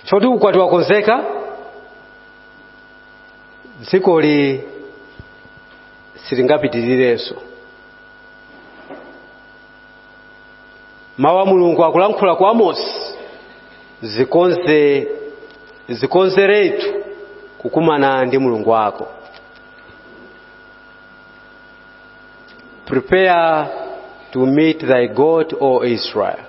choti ukwati wakonzeka dzikoli silingapitirirenso mawu a mulungu akulankhula kwa amosi zikonzeretu kukumana ndi mulungu wako prepare to meet thy god o israel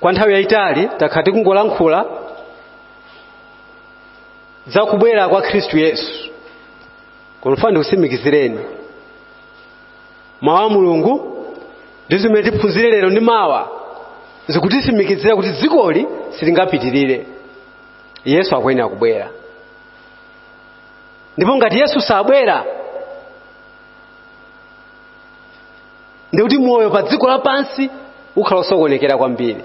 kwa nthawi yayitali takhala tikungolankhula za kubwera kwa khristu yesu koma ndifuna ndikusimikizireni mawu a mulungu ndi zimene tiphunzire lero ndi mawa zikutisimikizira kuti dzikoli silingapitirire yesu akuyenera kubwera ndipo ngati yesu sabwera ndikuti moyo pa dziko lapansi ukhala osokonekera kwambiri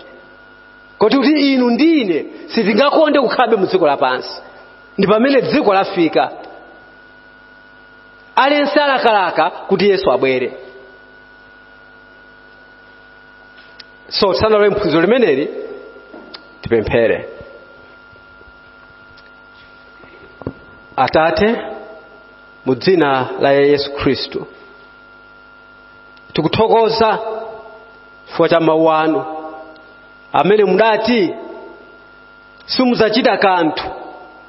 koti inu ndi ine sitingakonde kukhalabe mu dziko lapansi ndi pamene dziko lafika aliyense alakalaka kuti yesu abwere so tisanalowe mphunziro limeneli tipemphere atate mu dzina la yesu khristu tikuthokoza chifukwa cha mawu anu amene mudati simudzachita kanthu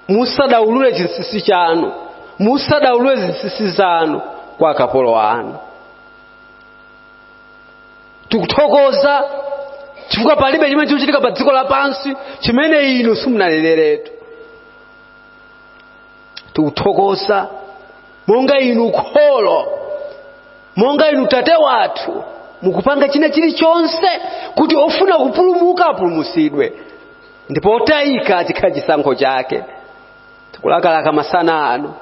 musadaulule chinsinsi chanu musadaulule zinsinsi zanu kwa akapolo anu tikuthokoza chifukwa palibe chimene chikuchitika pa dziko lapansi chimene inu simunaneneretu tikuthokoza monga inu kholo monga inu tate wathu mukupanga china chilichonse kuti ofuna kupulumuka apulumusidwe ndipo otayika chikhala chisankho chake tikulakalaka masana ano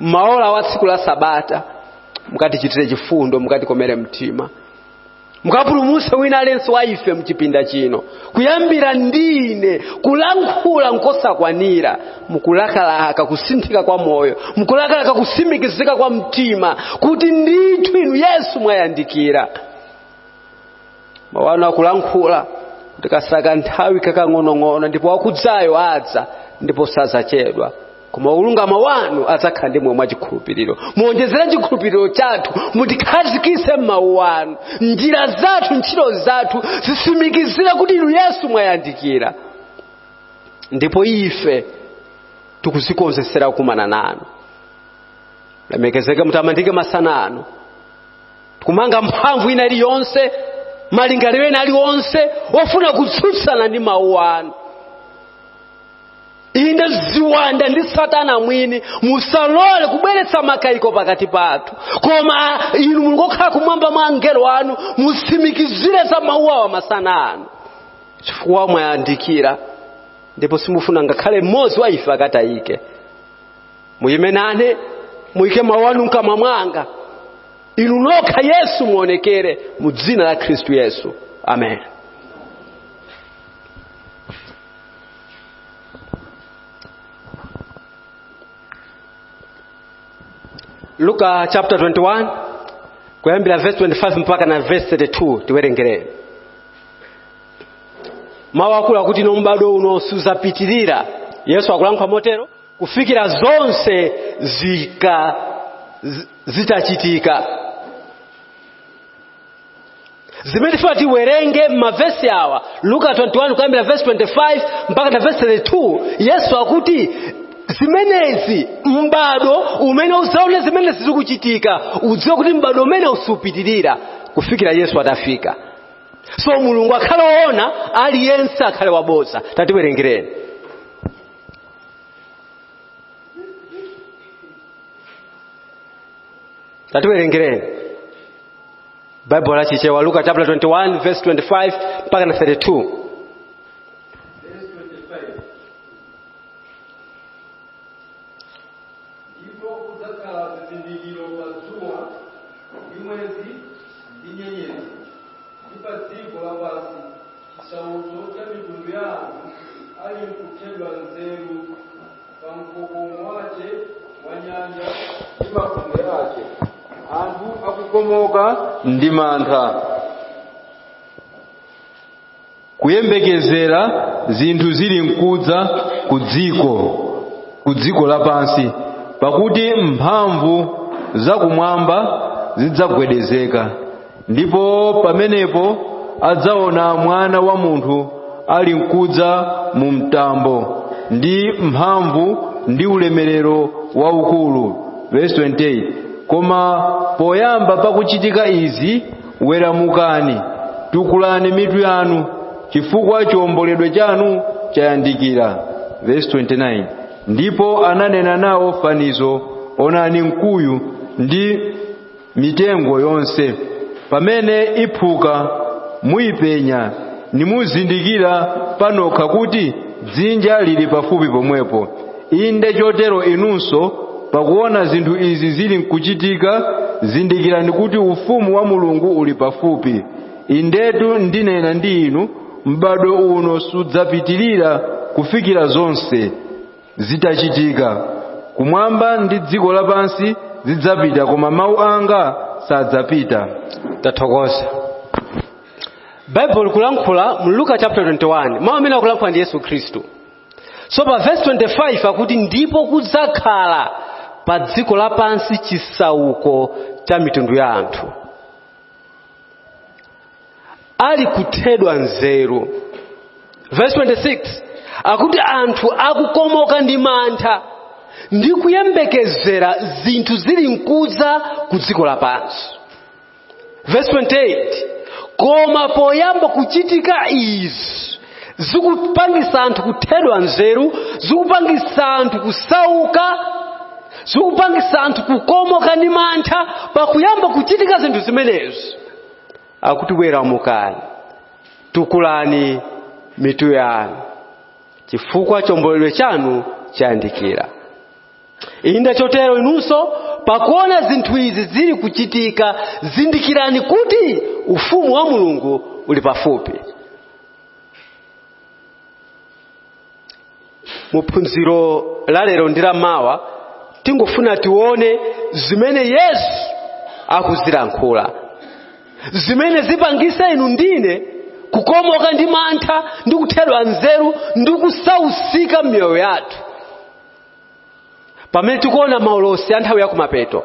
mmaola a tsiku la sabata mukatichitire chifundo mukatikomere mtima mukapulumutse wina aliyense wa ife mchipinda chino kuyambira ndi ine kulankhula nkosakwanira mukulakalaka kusinthika kwa moyo mukulakalaka kusimikizika kwa mtima kuti ndithu inu yesu mwayandikira mawu anu akulankhula kuti katsala nthawi kakang'onong'ono ndipo wakudzayo adza ndipo sazachedwa koma olungama wanu adzakhala ndi moyo mwa chikhulupiriro muonjezere chikhulupiriro chathu mutikhazikitse m'mawu anu njira zathu ntchito zathu zitsimikizire kuti inu yesu mwayandikira ndipo ife tikudzikonzetsera kukumana nanu lemekezeke mutamandike masana ano tikumanga mphamvu ina iliyonse malingaliro ena aliwonse ofuna kutsutsana ndi mawu anu inde ziwanda ndi satana mwini musalole kubweretsa makayiko pakati pathu koma inu mulungu okhala kumwamba mwa angelo anu mutsimikizire za mawu awa masana ano chifukwa mwayandikira ndipo simufuna ngakhale mmodzi wa ife akatayike muyime nane muyike mawu anu mkamwa mwanga inu nokha yesu muonekere mu dzina la khristu yesu amen luka chapter 21 kuyambira verse 25 mpaka na verse 32 tiwerengereni mawu akulu akuti no m'bado uno sudzapitirira yesu akulankhula motero kufikira zonse zika zi- zitachitika zimene tifuna tiwerenge m'mavesi awa luka 21 kuyambira vesi 25 mpaka na vesi 32 yesu akuti zimenezi m'bado umene udzaone zimenezi zikuchitika udziwe kuti m'bado umeneu supitirira kufikira yesu atafika so mulungu akhale woona aliyense akhale wabodza tatiwerengereni tatiwerengereni baibulo la chichewa luka chapter 21 verse 25 mpaka na 32 ndipo kudzakhala zizindikiro pa dzuwa ndi mwezi ndi nyenyezi ndi pa dziko lapansi chisauko cha mitundu ya anthu ali mkuthedwa nzeru pamkokomo wace wa nyanja ndi mafunde ace anthu akukomoka ndi mantha kuyembekezera zinthu zili mkudza ku dziko ku dziko lapansi pakuti mphamvu zakumwamba zidzagwedezeka ndipo pamenepo adzaona mwana wa munthu ali mkudza mu mtambo ndi mphamvu ndi ulemerero waukulu verse 28 koma poyamba pakuchitika izi weramukani tukulani mitu yanu chifukwa chiomboledwe chanu chayandikira verse 29 ndipo ananena nawo fanizo onani mkuyu ndi mitengo yonse pamene iphuka muyipenya nimuzindikira panokha kuti dzinja lili pafupi pomwepo inde chotero inunso pakuona zinthu izi zili nkuchitika zindikirani kuti ufumu wa mulungu uli pafupi indetu ndinena ndi inu m'badwo uno sudzapitirira kufikira zonse zitachitika kumwamba ndi dziko lapansi zidzapita koma mawu anga sadzapita tathokoza bible kulankhula mu luka chapter 21 mawu amene akulankhula ndi yesu khristu so pa verse 25 akuti ndipo kudzakhala pa dziko lapansi chisauko cha mitundu ya anthu ali kuthedwa nzeru verse 26 akuti anthu akukomoka ndi mantha ndi kuyembekezera zinthu zili nkudza ku dziko lapansi verse 28 koma poyamba kuchitika izi zikupangisa anthu kuthedwa nzeru zikupangisa anthu kusauka zikupangisa anthu kukomoka ndi mantha pakuyamba kuchitika zinthu zimenezi akuti weramukani tukulani mitu yanu chifukwa chiomboledwe chanu chayandikira inde chotero inunso pakuona zinthu izi zili kuchitika zindikirani kuti ufumu wa mulungu uli pafupi mu phunziro la lero ndi la mawa tingofuna tione zimene yesu akuzilankhula zimene zipangise inu ndine kukomoka ndi mantha ndi kuthedwa nzeru ndi kusausika m'miyoyo yathu pamene tikuona maulosi a nthawi yakumapeto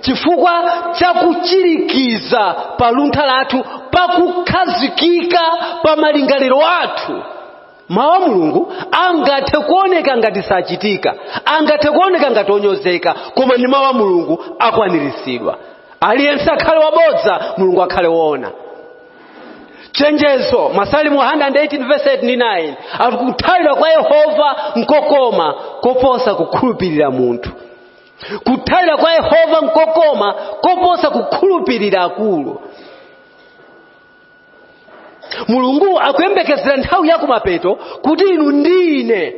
chifukwa cha kuchirikiza pa luntha lathu pakukhazikika pa malingaliro athu mawu a mulungu angathe kuoneka ngati sachitika angathe kuoneka ngati onyozeka koma ndi mawu a mulungu akwaniritsidwa aliyense akhale wabodza mulungu akhale woona chenjezo masalimo 118 verse 8 ndi 9 akuthawira kwa yehova nkokoma koposa kukhulupirira munthu kuthawira kwa yehova nkokoma koposa kukhulupirira akulu mulungu akuyembekezera nthawi yakumapeto kuti inu ndi ine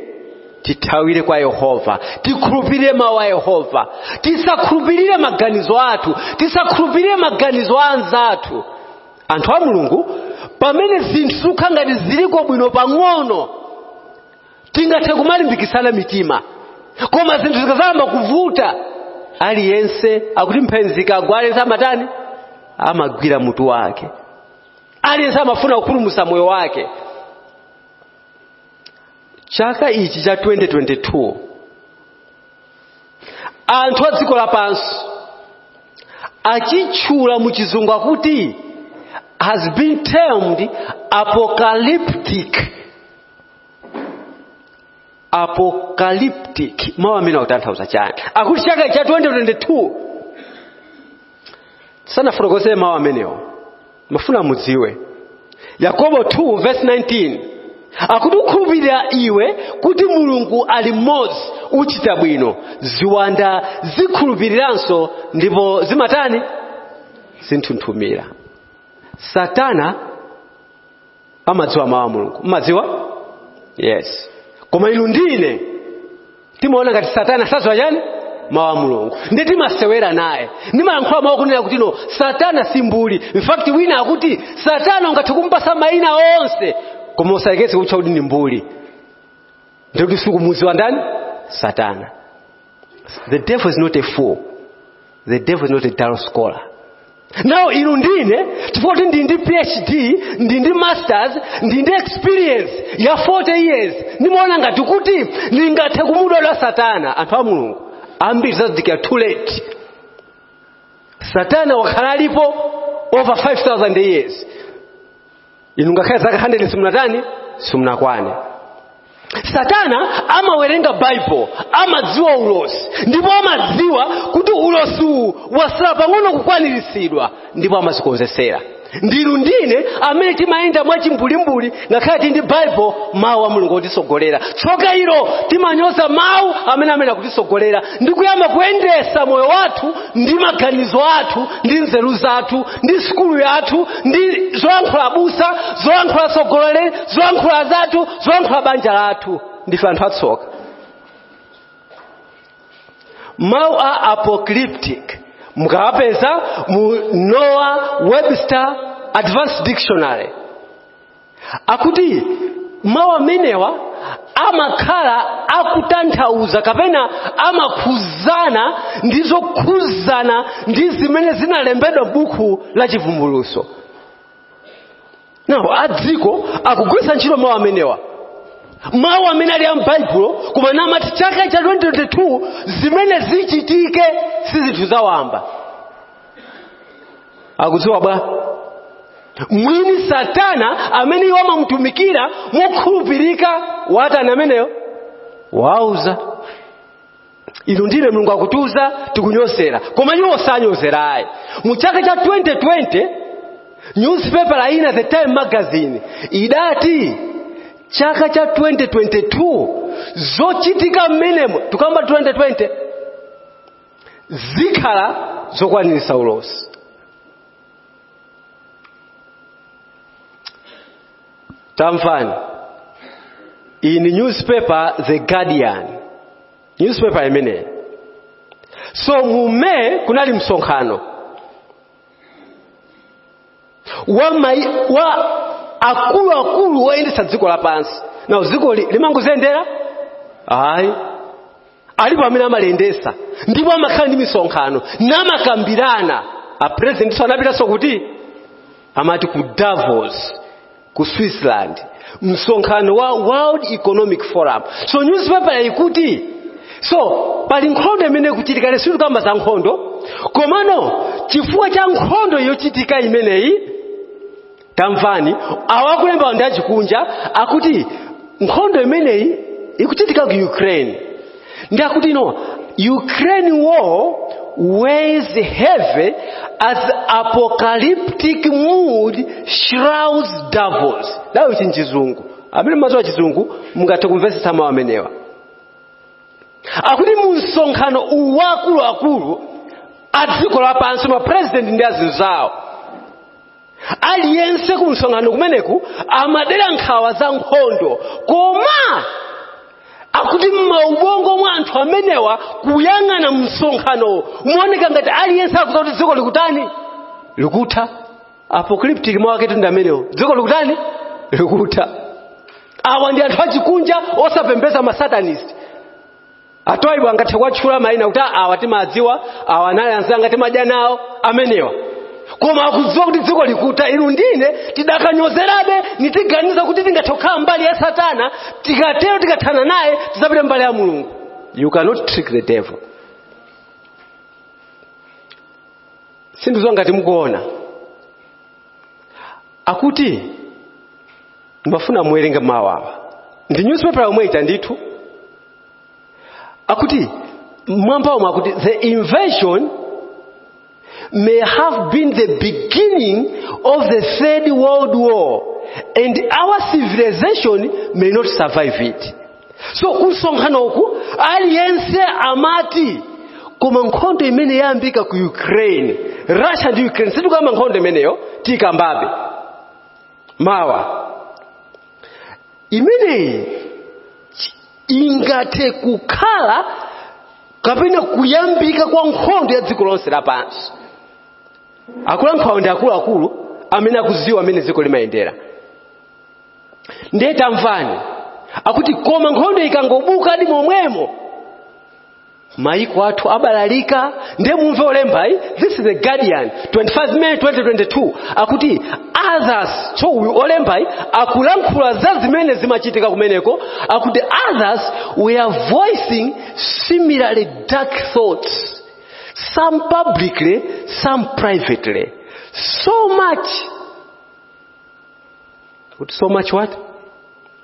tithawire kwa yehova tikhulupirire mawu a yehova tisakhulupirire maganizo athu tisakhulupirire maganizo a anzathu anthu a mulungu pamene zinthu zikukhala ngati ziliko bwino pang'ono tingathe kumalimbikitsana mitima koma zinthu zikadzayamba kuvuta aliyense akuti mphenzi ikagwa aliyense amatani amagwira mutu wake aliyense amafuna kupulumutsa moyo wake chaka ichi cha 2022 anthu a dziko lapansi achitchula mu chizungu akuti has been termed apocalyptic apocalyptic mawu amenewa akutanthauza chani akuti chaka cha 2022 ndisanafotokoze mawu amenewo ndimafuna mudziwe yakobo 2 verse 19 akuti ukhulupirira iwe kuti mulungu ali mmodzi uchita bwino ziwanda zikhulupiriranso ndipo zimatani zinthunthumira satana amadziwa mawu a mulungu mmadziwa yes koma inu ndi ine timaona ngati satana sadziwa chani mawu a mulungu ndi timasewera naye ndimayankhula mawu kunena kuti no satana si mbuli in fact wina akuti satana ungathe kumpasa mayina onse koma usayerekeze kutcha kuti ndi mbuli ndiye kuti sukumudziwa ndani satana the devil is not a fool the devil is not a dull scholar now inu ndi ine chifukwa kuti ndili ndi phd ndili ndi masters ndili ndi experience ya 40 years ndimaona ngati kuti ndingathe kumudoja satana anthu a mulungu ambiri adzazindikira too late satana wakhala alipo over 5000 years inu ngakhale zaka 100 simunatani simunakwane satana amawerenga baibulo amadziwa ulosi ndipo amadziwa kuti ulosi uwu wasala pang'ono kukwaniritsidwa ndipo amazikonzesera ndi inu ndi ine amene timayenda mwachimbulimbuli ngakhale tili ndi baibulo mawu a mulungu otisogolera tsoka ilo timanyoza mawu amene amene akutisogolera ndi kuyamba kuyendesa moyo wathu ndi maganizo athu ndi nzeru zathu ndi sukulu yathu ndi zoyankhula abusa zoyankhula atsogoleri zoyankhula azathu zoyankhula banja lathu ndife anthu atsoka mawu a apocalyptic mukawapeza mu noah webster advanced dictionary akuti mawu amenewa amakhala akutanthauza kapena amakhuzana ndi zokhuzana ndi zimene zinalembedwa m'buku la chivumbuluso nawo adziko akugwiritsa ntchito mawu amenewa mawu amene ali a m'baibulo koma namati chaka cha 2022 zimene zichitike si zinthu zawamba akudziwa bwanji mwini satana amene iwo amamutumikira mokhulupirika Satana ameneyo wawauza inu ndine mulungu akutiuza tikunyozera koma iwo sanyozera ayi mu chaka cha 2020 newspaper ina the time magazine idati chaka cha 2022 zochitika mmenemo tukamba 2020 zikhala zokwaniritsa ulosi tamvani in newspaper the guardian newspaper imeneyi so mu May kunali msonkhano wa, wa akuluakulu oyendetsa dziko lapansi nawo dziko silimangoziyendera ayi alipo amene amaliyendesa ndipo amakhala ndi misonkhano namakambirana apresidentiso anapitanso kuti amati ku davos ku switzerland msonkhano wa world economic forum so newspaper ikuti so pali nkhondo imene ikuchitika lero sitikamba za nkhondo komano chifukwa cha nkhondo yochitika imeneyi tamvani awa akulemba ndi achikunja akuti nkhondo imeneyi ikuchitika ku ukraine ndi akuti ino ukraine war weighs heavy as apocalyptic mood shrouds davos ndawo ichi nchizungu amene mumaziwa chizungu mungathe kumvetsetsa mawu amenewa akuti mu msonkhano uwu wa akuluakulu a dziko lapansi mapurezidenti ndi azinzawo aliyense ku msonkhano kumeneku amadera nkhawa za nkhondo koma akuti mmaubongo mwa anthu amenewa kuyang'ana msonkhanowo umaoneka ngati aliyense akuziwa kuti dziko likutani likutha apocalyptic mawu ake ndi amenewo dziko likutani likutha awa ndi anthu achikunja osapembeza masatanist atoibu angathe kuwatchula mayina kuti "Ah, awa timadziwa awa anali anzanga timadya nawo amenewa koma akudziwa kuti dziko likutha inu ndine tidakanyozerabe nitiganiza kuti tingathe kukhala mbali ya satana tikatero tikathana naye tidzapite mbali ya mulungu you cannot trick the devil sindidziwa ngati mukuona akuti ndimafuna muwerenge mawu awa ndi newspaper yomwe ita ndithu akuti mwamba omwe akuti the invasion may have been the beginning of the third world war and our civilization may not survive it so kumsonkhano uku aliyense amati koma nkhondo imene yayambika ku ukraine russia ndi ukraine sitikukamba nkhondo imeneyo tikambabe mawa imeneyi ingathe kukhala kapena kuyambika kwa nkhondo ya dziko lonse lapansi akulankhulawo ndi akuluakulu amene akuziwa mmene dziko limayendera ndiye tamvani akuti koma nkhondo ikangobuka edi momwemo mayiko athu abalalika ndiye mumve olembayi this is the guardian 25 may 2022 akuti others so uyu olembayi akulankhula za zimene zimachitika kumeneko akuti others were voicing similarly dark thoughts some publicly some privately so much akuti so much what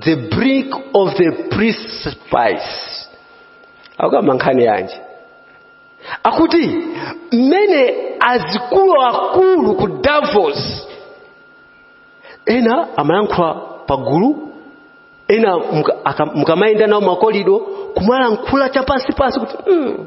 the brink of the precipice akukamba nkhani yanji akuti mmene azikuluakulu aku davos ena amalankhula pagulu ena muka- aka- mukamayenda nawo makolido kumalankhula chapansipansi kuti mm,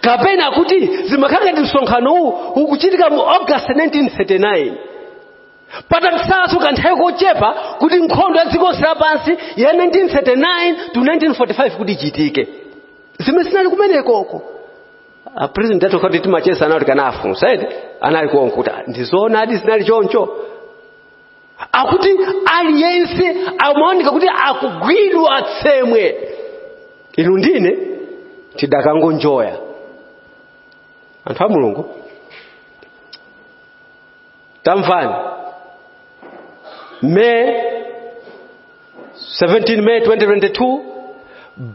kapena kuti zimakhala ngati msonkhano uwu ukuchitika mu august 1939 patatsalanso kanthawi kochepa kuti nkhondo ya dziko lonse lapansi ya 1939 to 1945 kuti ichitike zimene zinali kumenekoko a president athu akanati timacheza nawo tikanafunsa edi anali konko kuti ndizoonadi zinali choncho akuti aliyense amaoneka kuti akugwidwa tsemwe inu ndine tidakangonjoya anthu a mulungu tamvani may 17 may 2022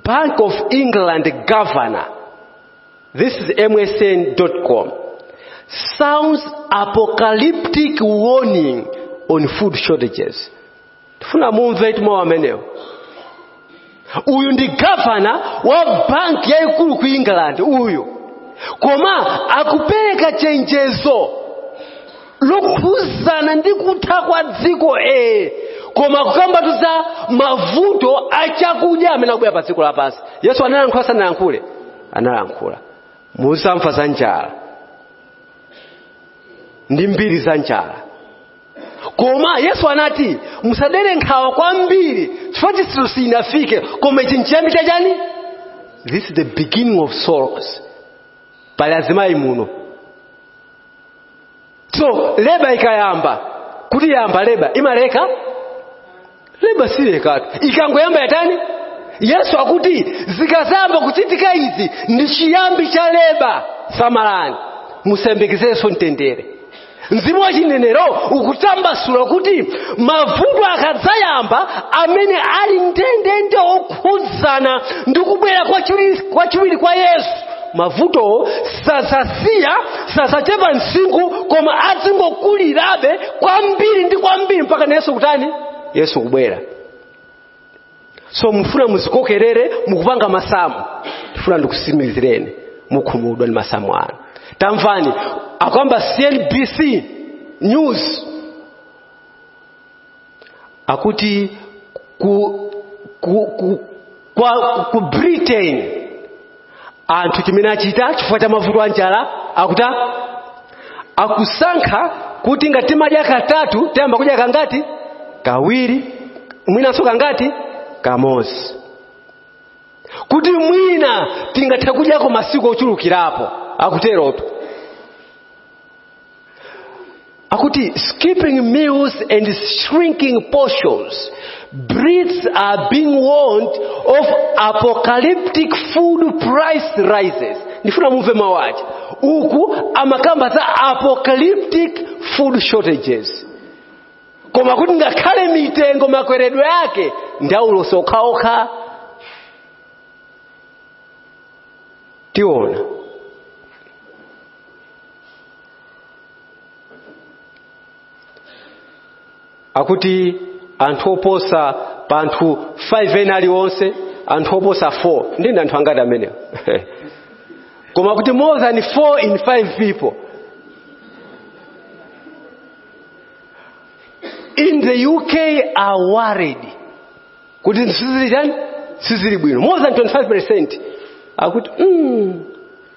bank of england governor This is MSN.com. Sounds apocalyptic warning on food shortages. Tufuna mumvetu mawu amenewo. Uyu ndi gavana wa banki yayikulu ku England uyu. Koma akupereka chenjezo lokhuzana ndi kutha kwa dziko ee koma kukambatu za mavuto a chakudya amene akubwera pa dziko lapansi yesu analankhula sanalankhule analankhula muzamva za njala ndi mbiri za njala koma yesu anati musadere nkhawa kwambiri chifukwa chitsiriziro sichinafike koma ichi nchiyambi cha chani this is the beginning of sorrows pali azimayi muno so leba ikayamba kutiyamba leba imaleka leba silekatu ikangoyamba yatani yesu akuti zikazamba kuchitika izi ndi chiyambi cha leba samalani musayembekezeso mtendere mzimu wa chinenero ukutsambasula kuti mavuto akadzayamba amene ali ndendende okhudzana ndi kubwera kwachiwiri kwa yesu mavutowo sazasiya sazachepa msinkhu koma azingokulirabe kwambiri ndi kwambiri mpaka na yesu kutani yesu kubwera so mufuna muzikokerere mukupanga masamu ndifuna ndikusimikizireni mukhumudwa ndi masamu anu tamvani akukamba cnbc news akuti ku britain anthu chimene achita chifukwa cha mavuto a njala akuta akusankha kuti ngati timadya katatu tiyamba kudya kangati kawiri mwinanso kangati kamodzi kuti mwina tingathe kudyako masiku ochulukirapo akuterotu akuti skipping meals and shrinking portions brits are being warned of apocalyptic food price rises ndifuna mumve mawu aja uku amakamba za apocalyptic food shortages koma kuti ngakhale mitengo makweredwe ake ndaulosi okhaokha tiona akuti anthu oposa pa anthu 5 ena aliwonse anthu oposa 4 ndi ndi anthu angati amenewo koma kuti more than 4 in 5 people in the uk are worried kuti sizili tani sizili bwino more than 25 percent akuti mm,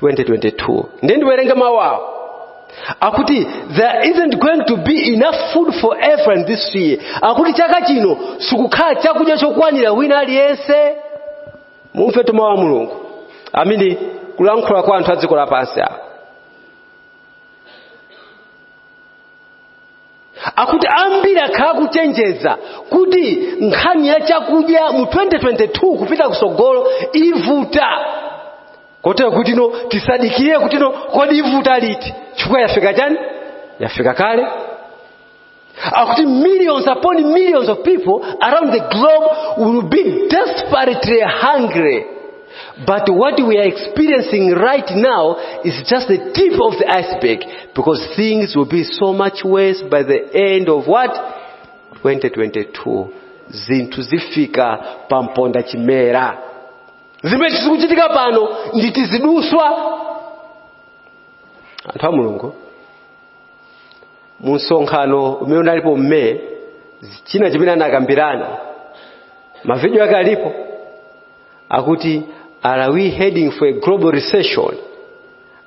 2022 ndiye ndiwerenge mawu awo akuti there isn't going to be enough food for everyone this year akuti chaka chino sikukhala chakudya chokwanira wina aliyense mumve mawu a mulungu amene akulankhula kwa anthu a dziko lapansi awo akuti ambiri akhala kuchenjeza kuti nkhani ya chakudya mu 2022 kupita kusogolo ivuta kotero kutino tisadikire kutino kodi ivuta liti chifukwa yafika chani yafika kale akuti millions upon millions of people around the globe will be desperately hungry but what we are experiencing right now is just the tip of the iceberg because things will be so much worse by the end of what 2022 zinthu zifika pamponda chimera zimene zikuchitika pano ndi tiziduswa anthu a mulungu mu msonkhano umene unalipo mu May china chimene anakambirana mavidiyo ake alipo akuti are we heading for a global recession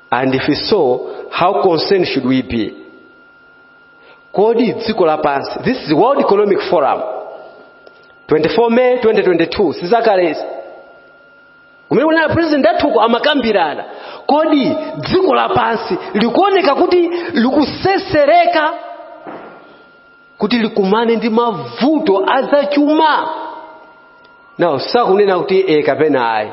and if so how concerned should we be kodi dziko lapansi this is world economic forum 24 may 2022 si zakalezi kumene kunali president athuko amakambirana kodi dziko lapansi likuoneka kuti likusesereka kuti likumane ndi mavuto azachuma now sakunena kuti e kapena ayi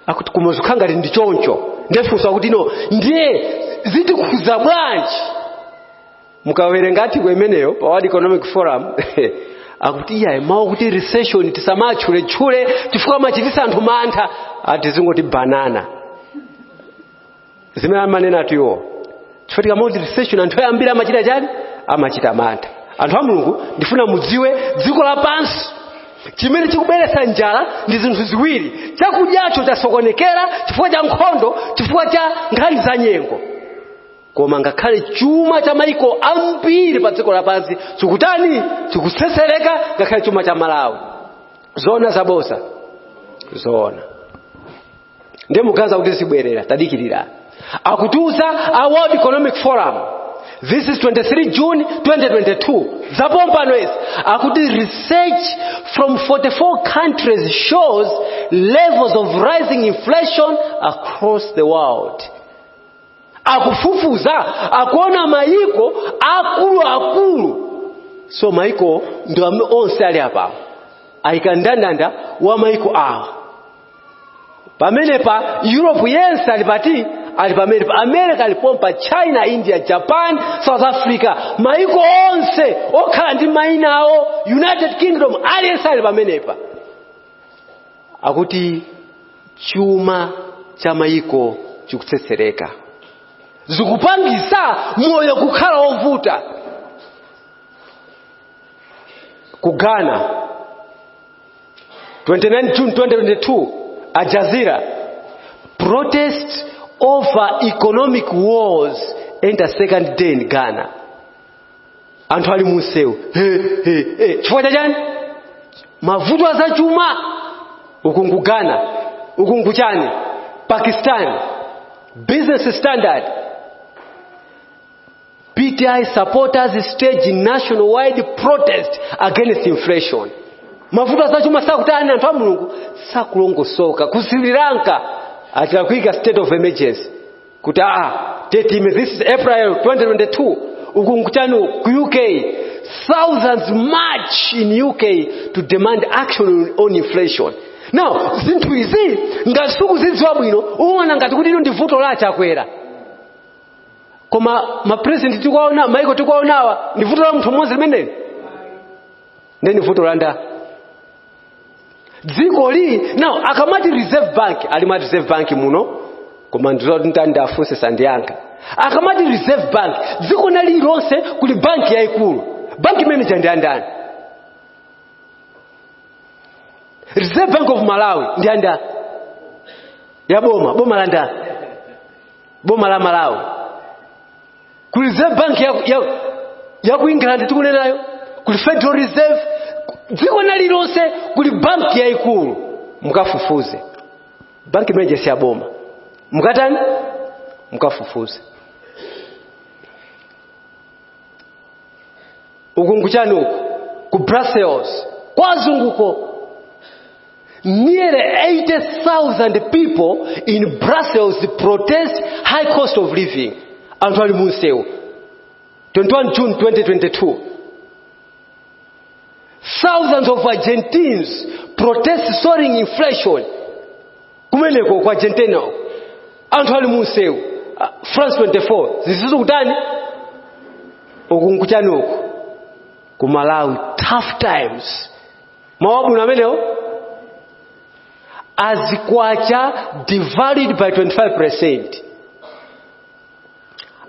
akuti koma zukhala ngati ndi choncho nde funso kutino ndiye zitikhuza bwanji mukawerenga article imeneyo pa world economic forum akuti iyayi mawu akuti recession tisamatchuletchule chifukwa amachitisa anthu mantha ati tizingoti banana zimene amanenatu iwo chifukwa tikamati recession anthu ambiri amachita chani amachita mantha anthu a mulungu ndifuna mudziwe dziko lapansi chimene chikubweretsa njala ndi zinthu ziwiri chakudyacho chasokonekera chifukwa cha nkhondo chifukwa cha nkhani za nyengo koma ngakhale chuma cha maiko ambiri pa dziko lapansi chikutani chikusesereka ngakhale chuma cha malawi zoona zaboza zoona ndiye mukuganiza kuti zibwerera tadikirira akutiuza a world economic forum this is 23 june 2022 zapompano izi akuti research from 44 countries shows levels of rising inflation across the world akufufuza akuona mayiko akulu akulu so mayiko ndi amene onse ali apawo ayika ndandanda wa mayiko awa pamenepa europe yense ali pati? ali pamenepa america ali pompa china india japan south africa maiko onse okhala ndi maina awo united kingdom aliyense ali pamenepa akuti chuma cha maiko chikutsetsereka zikupangisa moyo kukhala wovuta ku ghana 29 June 2022 Al Jazeera protest over economic wars enter second day in Ghana anthu ali munsewu He, he, he. chifukwa cha chani mavuto azachuma uku nku Ghana uku nku chani Pakistan business standard PTI supporters stage nationwide protest against inflation. Mavuto azachuma sakutani anthu a Mulungu sakulongosoka ku Sri Lanka achita kuika state of emergency kuti aa date time this is April 2022 uku nkuchani ku UK thousands march in UK to demand action on inflation. Now zinthu izi ngati sukuzidziwa bwino uona ngati kuti ino ndi vuto la achakwera koma mapresidenti tikuwaona maiko tikuwaonawa ndi vuto la munthu mmodzi limeneli nde ndi vuto la ndani dziko ili now akamati reserve bank ali ma reserve bank muno koma ndizoti ntani ndafunse sandiyankha akamati reserve bank dziko lina lililonse kuli banki yayikulu banki imeneyo ndi ya ndani reserve bank of malawi ndi ya ndani ya boma boma la ndani boma la malawi ku reserve bank ya, ya, ya ku england tikunenayo kuli federal reserve dziko lina lililonse kuli banki yayikulu mukafufuze banki imeneyo si yaboma mukatani mukafufuze uku nkuchani uku ku brussels kwa azunguko Nearly 80,000 people in Brussels protest high cost of living. Anthu ali munsewu. 21 June 2022. Thousands of Argentines protest soaring inflation. Kumeneko kwa Argentina. Anthu ali munsewu. Uh, France 24. Zisizo kutani? Ukunkuchani uku. Ku Malawi. Tough times. mawu abwino amenewo as kwacha devalued by 25 percent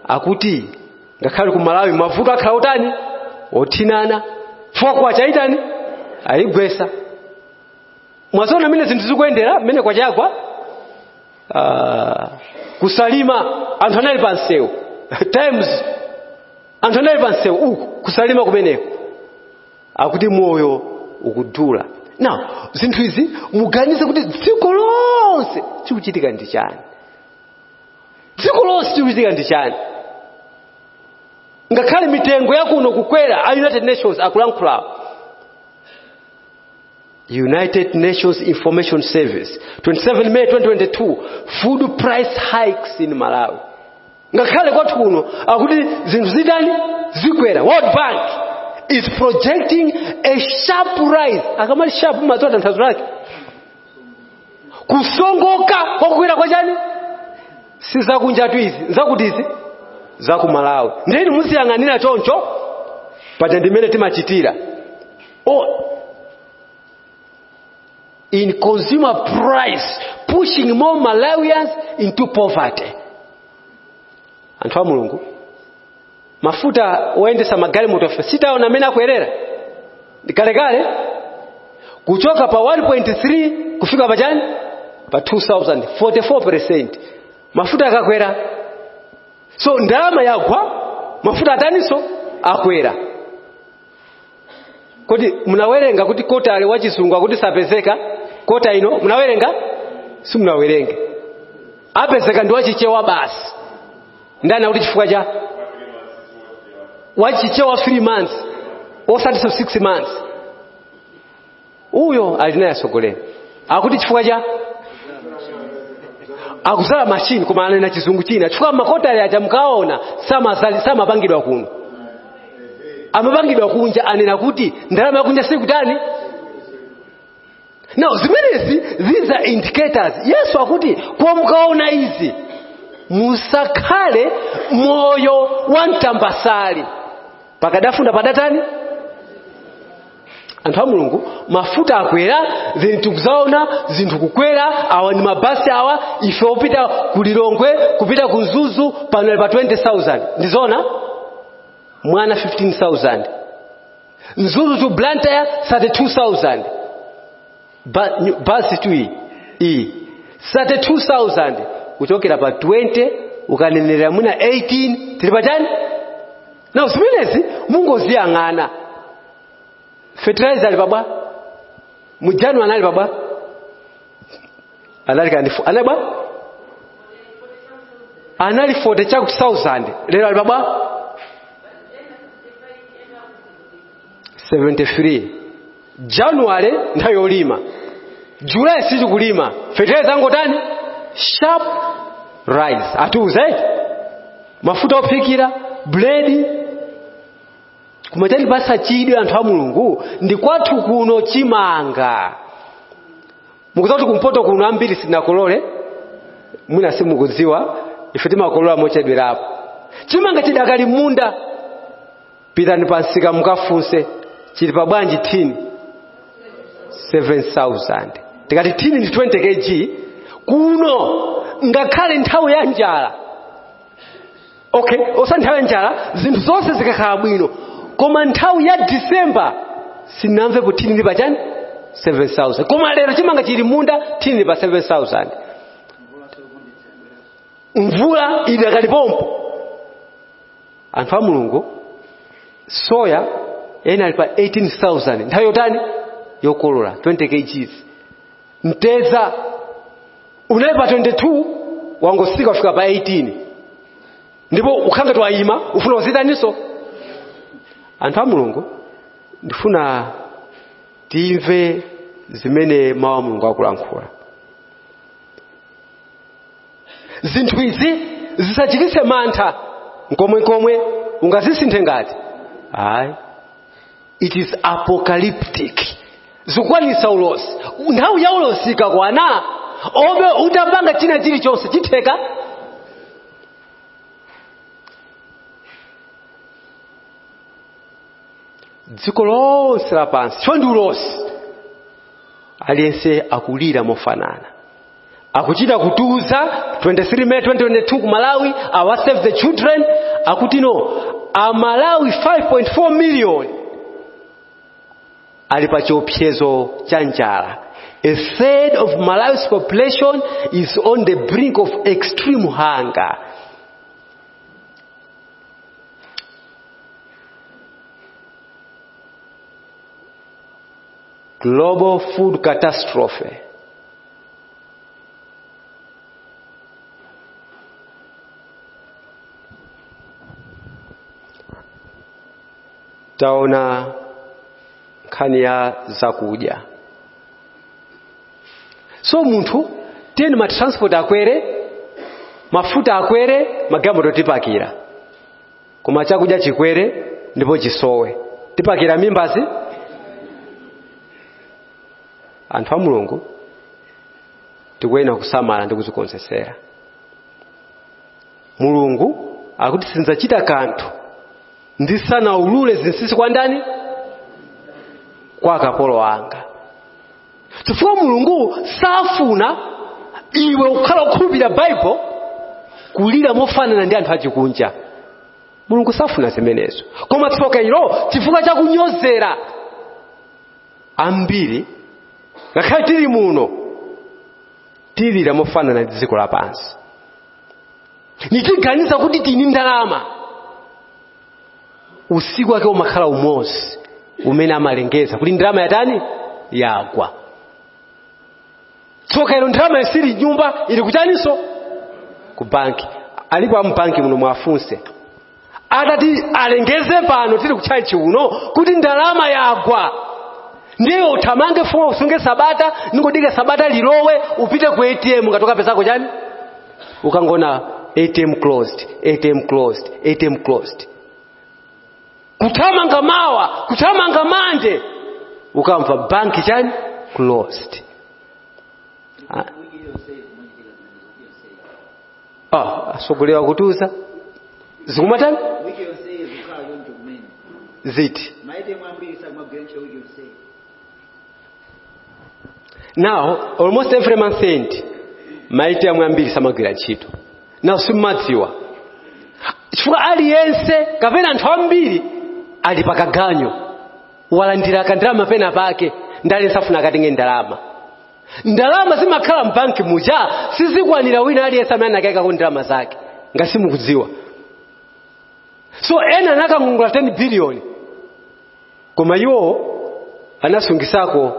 akuti ngakhale ku malawi mavuto akhala otani othinana ife kwacha ayitani ayigwesa mwaziona mmene zinthu zikuyendera mmene kwacha yagwa uh, ku salima anthu anali pa msewu times anthu anali pa msewu uku ku salima kumeneko akuti moyo ukudula now zinthu izi muganize kuti dziko lonse chikuchitika ndi chani dziko lonse chikuchitika ndi chani ngakhale mitengo yakuno kukwera a united nations akulankhulawo united nations information service 27 may 2022 food price hikes in malawi ngakhale kwathu kuno akuti zinthu zitani zikwera world bank is projecting a sharp rise akamati sharp mumadziwa tanthauzo lake kusongoka kwakukwera kwa chani si zakunjatu izi nzakuti izi zakumalawi nde inu muziyang'anira choncho paja ndimene timachitira in consumer price pushing more malawians into poverty anthu a mulungu mafuta oyendetsa magalimotofe sitaona amene akwerera ndikalekale kuchoka pa 1.3 kufika pa chani pa 2000 44 mafuta akakwera so ndalama yagwa mafuta ataninso akwera kodi munawerenga kuti kotale wa chizungu akuti sapezeka kota ino munawerenga simunawerenge apezeka ndi wachichewa basi nde akuti chifukwa cha wachichewa 3 months osati 6 months uyo ali naye atsogoleri akuti chifukwa cha akuzala machine koma anena chizungu china chifukwa makotale aja mukaona samapangidwa kuno amapangidwa kunja anena kuti ndalama yakunja sikutani now zimenezi these are indicators yesu akuti kwa mukaona izi musakhale moyo wa ntambasale pakadafunda padatani anthu a mulungu mafuta akwera then tikudzaona zinthu kukwera awa ndi mabasi awa ife opita ku lilongwe kupita ku mzuzu pano ali pa 20000 ndizona mwana 15000 mzuzu to blantyre 32000 Ba- nyu- basi tu iyi iyi 32000 kuchokera pa 20 ukanenera mwina 18 tili pachani na zimenezi mungoziyang'ana fertilizer ali pabwa mujanu anali pabwa anali kandi fo- anali bwa anali 40 chakuti 1000 lero ali pabwa 73 January nthawi yolima July sitikulima fertilizer angotani sharp rise atiuze mafuta ophikira buledi kumachani kumatipasa chidwi anthu a mulungu ndi kwathu kuno chimanga mukudziwa kuti kumpoto kuno ambiri sinakolole mwina simukudziwa ife timakolola mochedwerapo chimanga chidakali munda pitani pansika mukafunse chili pa bwanji thini 7000 tikati thini ndi 20 kg kuno ngakhale nthawi ya njala okay osa nthawi ya njala zinthu zonse zikakhala bwino koma nthawi ya Disemba sinamvepo thini ndi pa chani 7000 koma lero chimanga chili munda thini ndi pa 7000 mvula idakali pompo anthu a mulungu soya yense ali pa 18000 nthawi yotani yokolola 20 kgs mtedza unali pa 22 wangotsika kufika pa 18 ndipo ukhangati waima ufuna uzitaninso anthu a mulungu ndifuna timve zimene mawu a mulungu akulankhula zinthu izi zisachititse mantha nkomwenkomwe ungazisinthe ngati ayi it is apocalyptic zikukwanitsa ulosi nthawi ya ulosi ikakwana olo utapanga china chilichonse chitheka dziko lonse lapansi chifukwa ndi ulosi aliyense akulira mofanana akuchita kutiuza 23 May 2022 ku Malawi awa Save the Children akuti no aMalawi 5.4 million ali pa chiopsezo cha njala a third of Malawi's population is on the brink of extreme hunger global food catastrophe taona nkhani ya zakudya so munthu tiyeni ma transport akwere mafuta akwere magalimoto tipakira koma chakudya chikwere ndipo chisowe tipakira mimbazi anthu a mulungu tikuyenera kusamala ndi kudzikonzekera mulungu akuti sindidzachita kanthu ndisanaulule zinsinsi kwa ndani kwa akapolo anga chifukwa mulungu safuna iwe ukhala wokhulupirira baibulo kulira mofanana ndi anthu achikunja mulungu safuna zimenezo koma tsoka ilo chifukwa chakunyozera ambiri ngakhale tili muno tilira mofanana ndi dziko lapansi nitiganiza kuti tini ndalama usiku wake umakhala umodzi umene amalengeza kuti ndalama yatani yagwa tsoka ilo ndalama isili m'nyumba ili kuchaninso ku banki alipo amubanki muno mwafunse atati alengeze pano tili kutchalitchi uno kuti ndalama yagwa ndiye uthamange funa usunge sabata ndingodika sabata lilowe upite ku atm ngati ukapezako chani ukangoona atm closed atm closed atm closed kuthamanga mawa kuthamanga mande ukamva banki chani closed Ah, ah atsogoleri akutiuza zikumatani wiki yonseyi zikhala choncho kumene ziti maitemu ambiri sakumagwira ntchito wiki yonseyi now almost every month end maite amwe ambiri samagwira ntchito now simumadziwa chifukwa aliyense kapena anthu ambiri ali pakaganyo walandira kandalama pena pake ndale safuna akatenge ndalama ndalama zimakhala mbanki muja sizikwanira wina aliyense amene anakaikako ndalama zake ngati simukudziwa so ena anakangongola 10 biliyoni koma iwo anasungisako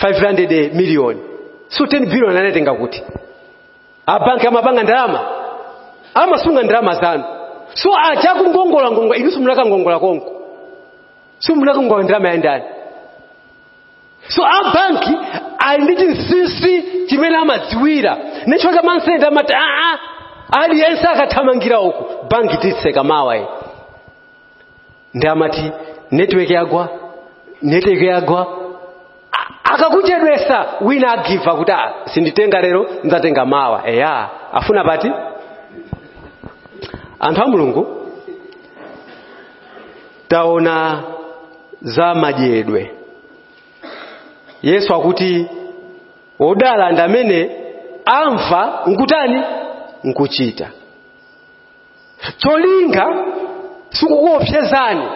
500 miliyoni so 10 biliyoni anatenga kuti abanki amapanga ndalama amasunga ndalama zanu so achakungongolangongola inunso munakangongola konko simunafunse kuti ndalama ya ndani so a banki ali ndi chinsinsi chimene amadziwira ndiye ikakwana month end amati aa aliyense akathamangira uku banki titseka mawa iyi ndi amati network yagwa network yagwa akakuchedwetsa wina agive up kuti "Ah, sinditenga lero ndidzatenga mawa eya afuna pati anthu a mulungu taona za madyedwe yesu akuti odala ndi amene amva nkutani nkuchita cholinga sikukuopsezani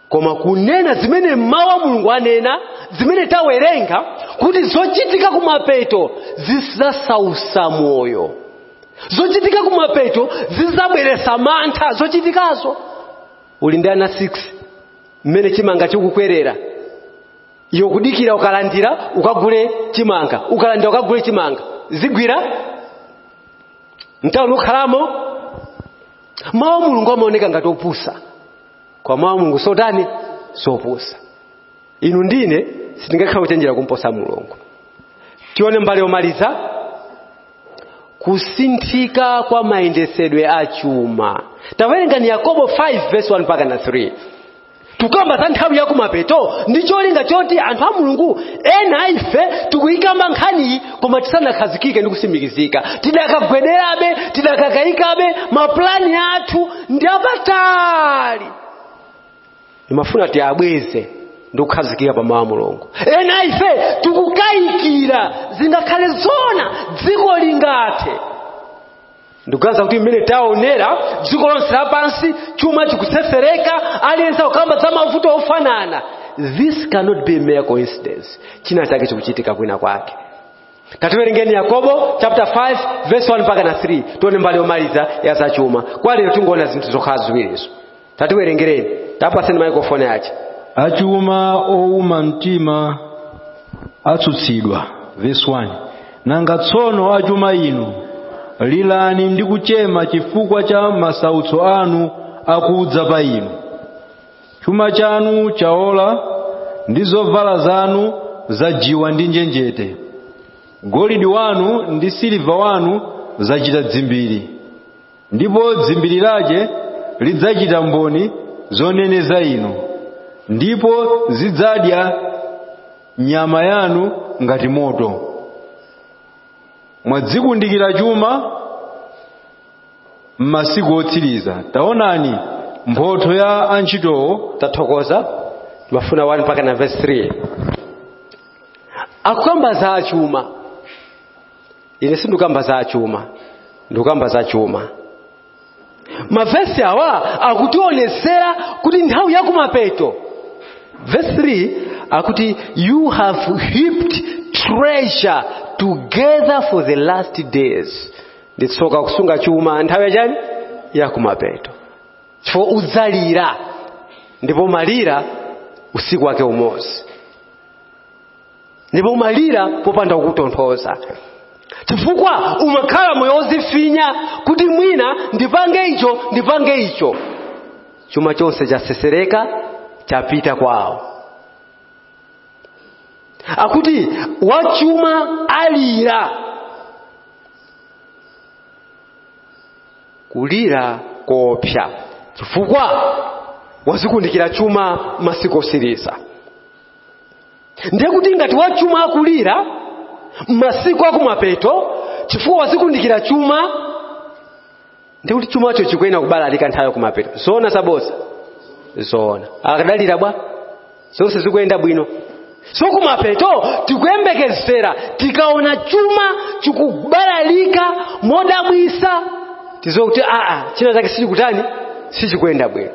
koma kunena zimene mawu a mulungu anena zimene tawerenga kuti zochitika kumapeto zizasausa moyo zochitika kumapeto zizabweretsa mantha zochitikazo uli ndi ana 6 mmene chimanga chikukwerera iyo kudikira ukalandira ukagule chimanga ukalandira ukagule chimanga zigwira mtauni ukhalamo mawu a mulungu amaoneka ngati opusa kwa mawu a mulungu sotani sopusa inu ndine sitingakhala kuchenjera kumposa mulungu tione mbali yomaliza kusinthika kwa mayendesedwe a chuma tawerengani Yakobo 5 verse 1 mpaka na 3 tukamba za nthawi yakumapeto ndi cholinga choti anthu a mulungu ena ife tikuyikamba nkhaniyi koma tisanakhazikike ndi kusimikizika tidakagwederabe tidakakayikabe mapulani athu ndi apatali ndimafuna tiabweze ndi kukhazikika pa mawu a mulungu ena ife tikukayikira zingakhale zona dziko lingathe ndikuganiza kuti mmene taonera dziko lonse lapansi chuma chikutsetsereka aliyense akukamba za mavuto ofanana this cannot be mere coincidence china chake chikuchitika kwina kwake tatiwerengereni yakobo chapter 5 verse 1 mpaka na 3 tione mbali yomaliza ya zachuma kwa lero tingoona zinthu zokhala ziwirizo tatiwerengereni tapaseni maikrofoni ache achuma ouma mtima atsutsidwa verse 1 nanga tsono achuma inu lirani ndi kuchema chifukwa cha masautso anu akudza pa inu chuma chanu chaola ndi zovala zanu zajiwa ndi njenjete golidi wanu ndi siliva wanu zachita dzimbiri ndipo dzimbiri lache lidzachita mboni zoneneza inu ndipo zidzadya nyama yanu ngati moto mwadzikundikira chuma m'masiku otsiriza taonani mphotho ya antchitowo tathokoza ndimafuna 1 mpaka na verse 3 akukamba za achuma ine sindikukamba za achuma ndikukamba za chuma mavesi awa akutionesera kuti nthawi yakumapeto verse 3 akuti you have heaped treasure together for the last days ndi tsoka kusunga chuma nthawi yachani yakumapeto chifukwa udzalira ndipo umalira usiku wake umodzi ndipo umalira popanda wokutonthoza chifukwa umakhala moyo wozifinya kuti mwina ndipange icho ndipange icho chuma chonse chasesereka chapita kwawo akuti wachuma alira kulira koopsa chifukwa wazikundikira chuma masiku otsiriza ndiye kuti ngati wachuma akulira masiku akumapeto chifukwa wazikundikira chuma ndiye kuti chumacho chikuyenera kubalalika nthawi yakumapeto zoona zabodza zoona akadalira bwa zonse zikuyenda bwino so kumapeto tikuyembekezera tikaona chuma chikubalalika modabwisa tiziwe kuti aa china chake sichikutani sichikuyenda bwino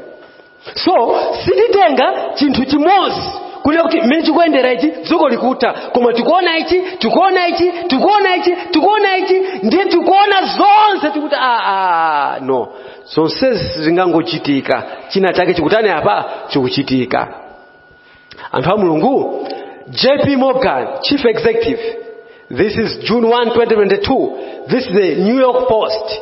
so sititenga chinthu chimodzi kunena kuti mmene chikuyendera ichi dziko likutha koma tikuona ichi tikuona ichi tikuona ichi tikuona ichi ndiye tikuona zonse tikuti aa no zonsezi sizingangochitika china chake chikutani apa chikuchitika anthu a mulungu jp morgan chief executive this is june 1 2022 this is the new york post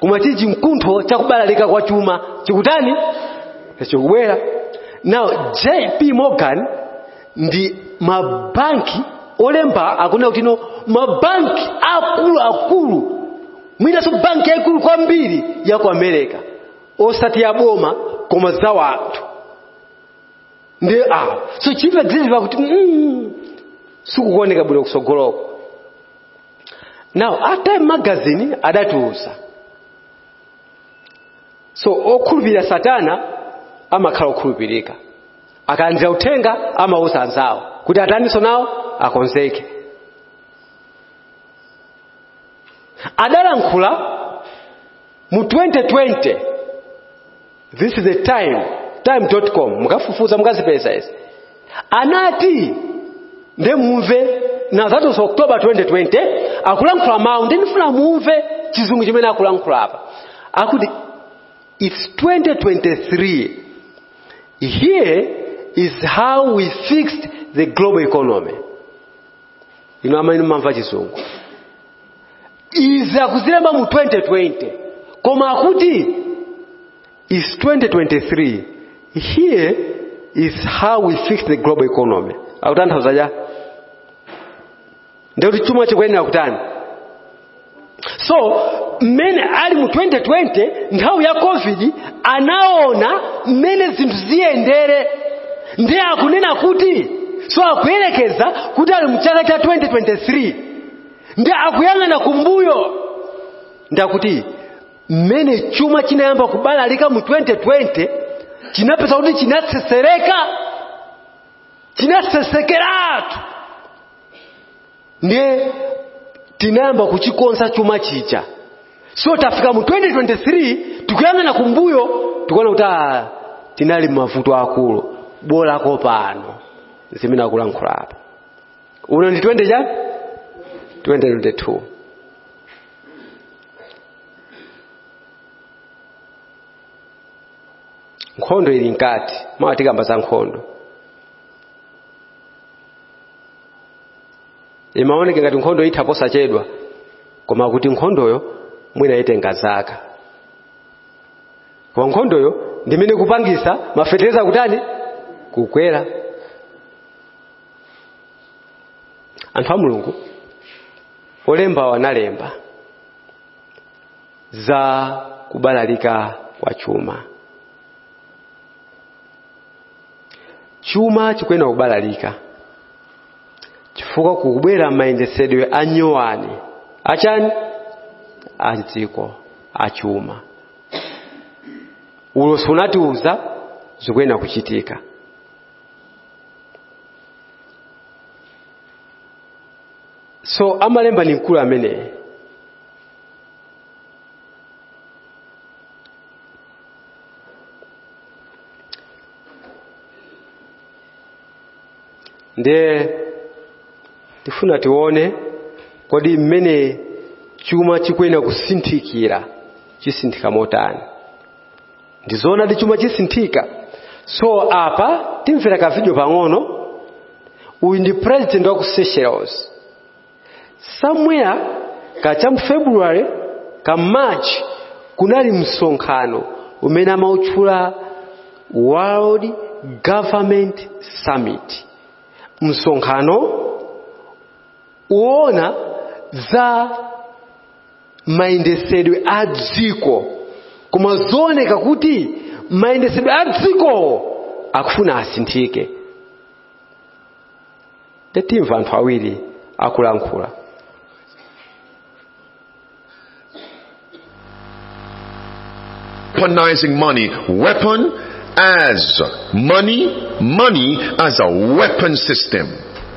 koma chili chimkuntho chakubalalika kwa chuma chikutani chikubwera now jp morgan ndi mabanki olemera akunena kuti no mabanki akuluakulu mwinanso banki yaikulu kwambiri ya ku america osati ya boma koma za wanthu ndi awo so chief executive akuti mm, sikukuoneka bwino kusogoloko now time magazine adatiuza so okhulupirira satana amakhala okhulupirika akalandira uthenga amauza anzawo kuti ataninso nawo akonzeke adalankhula mu 2020 this is the time time.com mukafufuza mukazipeza izi anati nde mumve now that was october 2020 akulankhula mawu ndi ndifuna mumve chizungu chimene akulankhula apa akuti it's 2023 here is how we fixed the global economy inu amene mumamva chizungu izi akuzilemba mu 2020 koma akuti it's 2023 here is how we fixed the global economy akutanthauza chani ndikuti chuma chikuyenera kutani so mmene ali mu 2020 nthawi ya covid anaona mmene zinthu ziyendere ndiye akunena kuti so akuyerekeza kuti ali mu chaka cha 2023 ndiye akuyang'ana kumbuyo ndiye kuti mmene chuma chinayamba kubalalika mu 2020 chinapeza kuti chinaseseleka chinasesekeratu ndiye tinayamba kuchikonza chuma chija so tafika mu 2023 tikuyang'ana kumbuyo tikuona kuti ah, tinali mavuto akulu bola ko pano zimene akulankhula apa uno ndi 20 chani 2022 nkhondo ili mkati mawa tikamba za nkhondo imaoneka ngati nkhondo itha posachedwa koma kuti nkhondoyo mwina itenga zaka koma nkhondoyo ndi imene ikupangitsa mafetereza kutani kukwera anthu a mulungu olembawo analemba za kubalalika kwa chuma chuma chikuyenera kubalalika chifukwa kukubwera mayendetsedwe anyowani achani a dziko achuma ulosi unatiuza zikuyenera kuchitika so amalemba ni mkulu ameneyi ndiye tifuna tione kodi mmene chuma chikuyenera kusinthikira chisinthika motani ndizoonadi chuma chisinthika so apa timvera ka video pang'ono uyu ndi president wa ku seychelles somewhere ka cha mu february ka march kunali msonkhano umene amautchula world government summit msonkhano woona za mayendesedwe a dziko koma zooneka kuti mayendesedwe a dzikowo akufuna asinthike ndiye timva anthu awiri akulankhula weaponizing money. Weapon as money, money as a weapon system.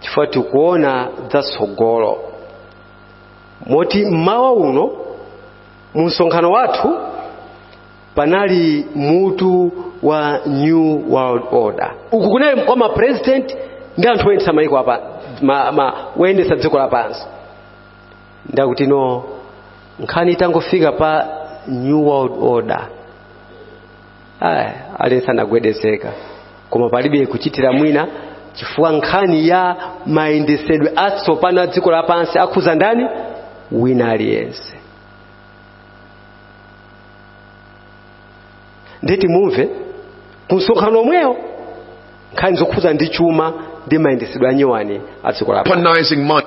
chifukwa tikuona zatsogolo moti mmawa uno mu msonkhano wathu panali mutu wa new world order uku kunali kwa mapresident ndi anthu oyendetsa mayiko apa ma, ma, oyendetsa dziko lapansi ndikutino nkhani itangofika pa new world order eya aliyense anagwedezeka koma palibe kuchitira mwina chifukwa nkhani ya mayendesedwe atsopano a dziko lapansi akhuza ndani wina aliyense ndiye timumve ku msonkhano omwewu nkhani zokhuza ndi chuma ndi mayendesedwe anyowani a dziko lapansi Weaponizing money.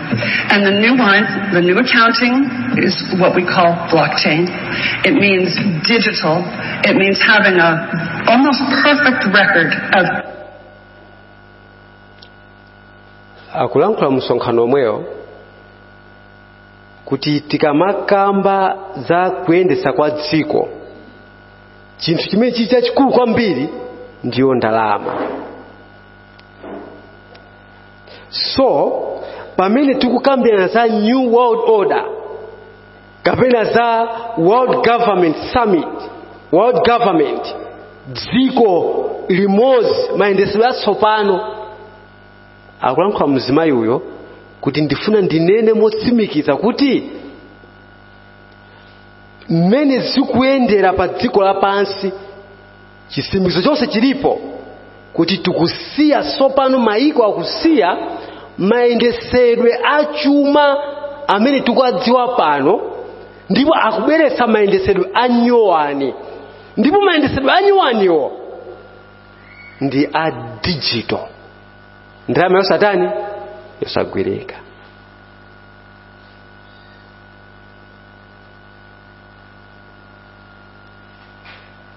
And the new one, the new accounting is what we call blockchain. It means digital. It means having a almost perfect record of akulankhula mu msonkhano omwewo kuti tikamakamba za kuyendetsa kwa dziko chinthu chimene chili chachikulu kwambiri ndiyo ndalama so pamene tikukambirana za new world order kapena za world government summit world government dziko limodzi mayendetsedwe atsopano akulankhula mzimayi uyo kuti ndifuna ndinene motsimikiza kuti mmene zikuyendera pa dziko lapansi chitsimikizo chonse chilipo kuti tikusiya tsopano mayiko akusiya mayendesedwe a chuma amene tikuwadziwa pano ndipo akubweretsa mayendesedwe a nyowani ndipo mayendesedwe a nyowaniwo ndi a digital ndalama yosatani yosagwirika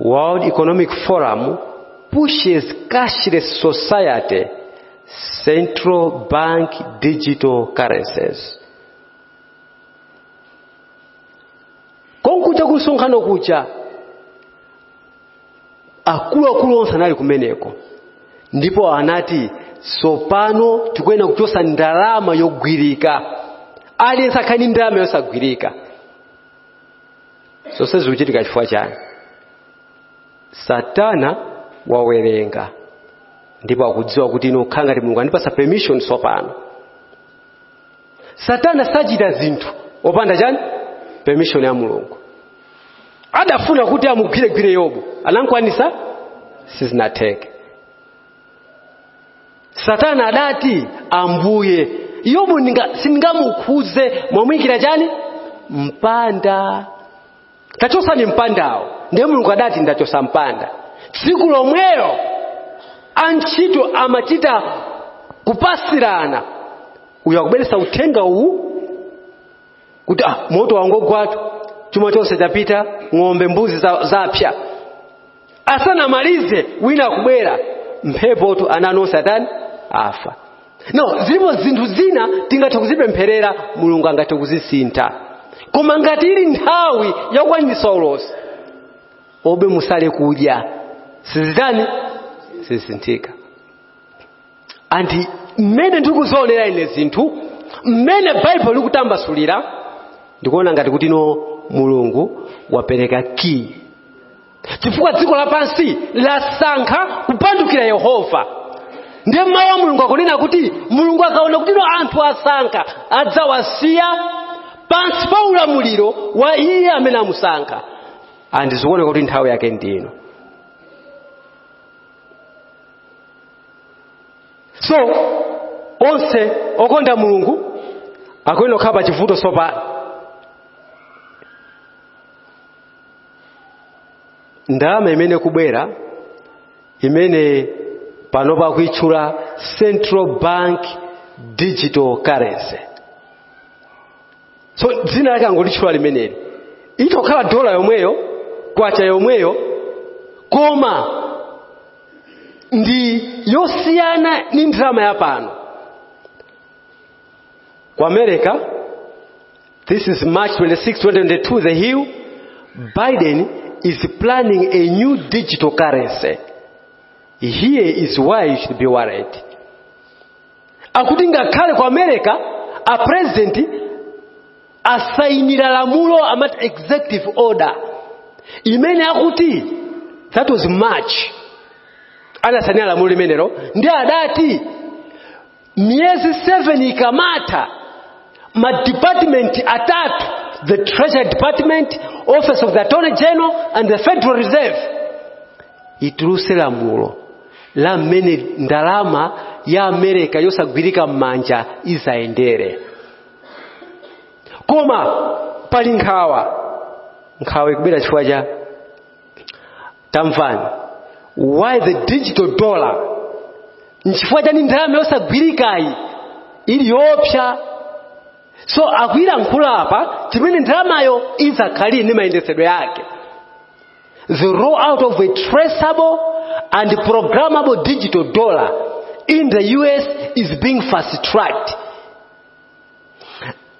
World Economic Forum pushes cashless society, central bank digital currencies. Konkuja kusonkhano kuja akuluakulu onse anali kumeneko ndipo anati tsopano tikuyenera kuchosa ndalama yogwirika aliyense akhale ndi ndalama yosagwirika zonse zikuchitika chifukwa chani satana wawerenga ndipo akudziwa kuti no kukhala ngati mulungu andipatsa permission tsopano satana sachita zinthu popanda chani permission ya mulungu adafuna kuti amugwiregwire yobu anamkwanisa sizinatheke satana adati ambuye yobu sindingamukhudze mwamuyikira chani mpanda tachotsani mpandawo ndiye mulungu adati ndachotsa mpanda tsiku lomwelo antchito amachita kupasirana uyo akubweretsa uthenga uwu kuti ah, moto wangogwatu chuma chonse chapita ng'ombe mbuzi zapsa asanamalize wina akubwera mphepotu ana nonse atani afa no zilipo zinthu zina tingathe kuzipempherera mulungu angathe kuzisintha koma ngati ili nthawi yakukwanitsa ulosi olo musale kudya sizitani sizisinthika and mmene ndikuzionera ine zinthu mmene baibulo likutambasulira ndikuona ngati kuti no mulungu wapereka key chifukwa dziko lapansi lasankha kupandukira yehova ndiye mawu a mulungu akunena kuti mulungu akaona kuti no anthu asankha adzawasiya pansi pa ulamuliro wa iye amene amusankha and zikuoneka kuti nthawi yake ndino so onse okonda mulungu akuyenera kukhala pa chivuto tsopano ndalama imene ikubwera imene pano akuitchula central bank digital currency so dzina lake angolitchula limeneli itokhala dola yomweyo kwacha yomweyo koma ndi yosiyana ndi ndalama ya pano ku america This is March 26, 2022, The Hill. Biden is planning a new digital currency. Here is why you should be worried. Akuti ngakhale ku America, a president asainira lamulo amati executive order imene akuti that was March anasainira lamulo limenelo ndi adati miyezi 7 ikamatha madepartment atatu the treasury department office of the attorney general and the federal reserve ituluse lamulo la mmene ndalama ya America yosagwirika m'manja izayendere koma pali nkhawa nkhawa ikubwera chifukwa cha tamvani why the digital dollar nchifukwa chani ndalama yosagwirikayi ili yoopsa so akulankhula apa cha mmene ndalamayo idzakhalire ndi mayendetsedwe ake the roll out of a traceable and programmable digital dollar in the us is being fast tracked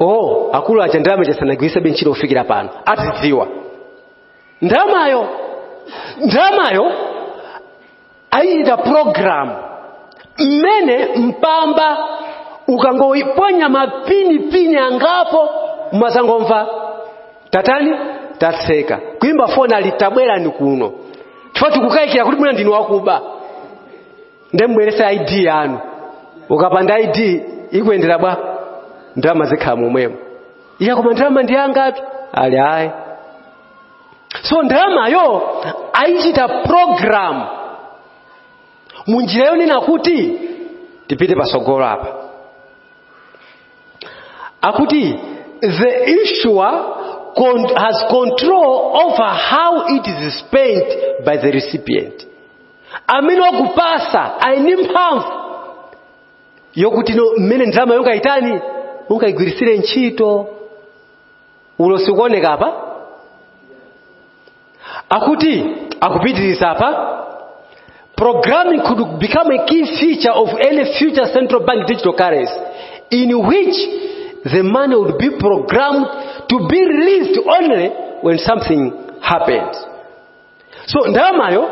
oh akulu aja ndalama chasanagwirisebe ntchito kufikira pano azidziwa ndalamayo ndalamayo ayichita program mmene mpamba ukangoiponya mapini pini angapo umazangomva tatani tatseka kuimba foni ati tabwerani kuno chifukwa tikukayikira kuti mwina ndinu wakuba nde mubwerese id yanu ukapanda id ikuyendera bwa ndalama zikhala momwemo iya koma ndalama ndi yangatu ati ayi so ndalamayo ayichita program munjira yonena kuti tipite pasogolo apa akuti the issuer has control over how it is spent by the recipient amene wakupasa ali ndi mphamvu yokuti no mmene ndalama yongayitani ungayigwiritsire ntchito olo sikuoneka apa akuti akupitiriza apa programming could become a key feature of any future central bank digital currency in which the money would be programmed to be released only when something happens so ndalamayo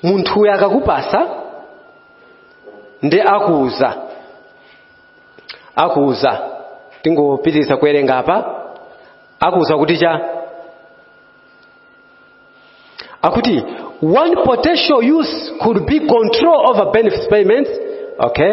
munthuyo akakupasa ndi akuuza akuuza tingopitiriza kuwerenga apa akuuza kuti cha akuti one potential use could be control over benefits payments okay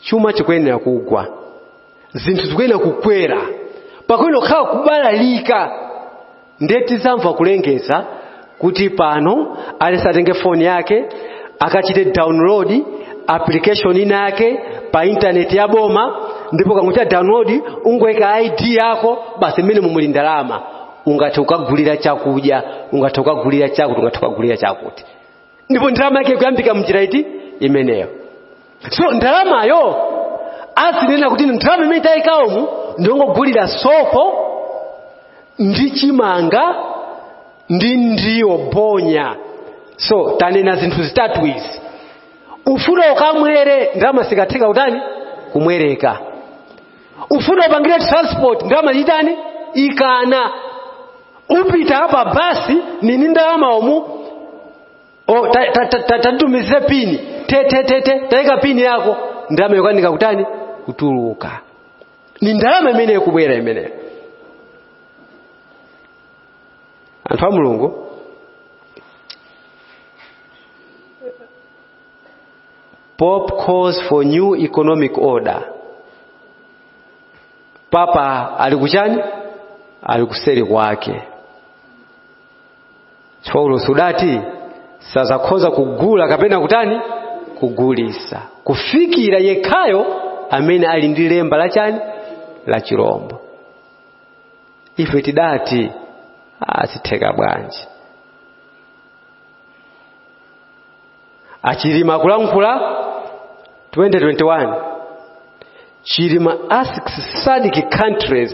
chuma chikuyenera kugwa zinthu zikuyenera kukwera pakuyenera kukhala kubalalika ndiye tizamva kulengeza kuti pano aliyense atenge foni yake akachite download application ina yake pa intaneti ya boma ndipo ukangochita download ungoika ID yako basi m'menemo muli ndalama ungathe kukagulira chakudya ungathe kukagulira chakuti ungathe kukagulira chakuti ndipo ndalama yake ikuyambika mnjira iti imeneyo so ndalamayo azinena kuti ndalama imene tayika umu ndiyongogulira sopo ndi chimanga ndi ndiwo bonya so tanena zinthu zitatu izi ufuna ukamwere ndalama sikatheka kutani kumwereka ufuna upangire transport ndalama itani ikana upita apa basi nini ndalama umu o ta- ta- ta- ta- tatitumizire pini te te te te tayika pini yako ndalama yokanika kutani kutuluka ndi ndalama imeneyo ikubwera imeneyo anthu a mulungu pope calls for new economic order papa ali kuchani ali kuseri kwake chifukwa Ulosi udati sazakhoza kugula kapena kutani kugulitsa kufikira yekhayo amene ali ndi lemba la chani la chirombo ife tidati azitheka bwanji a Chilima akulankhula 2021 chilima asks sadc countries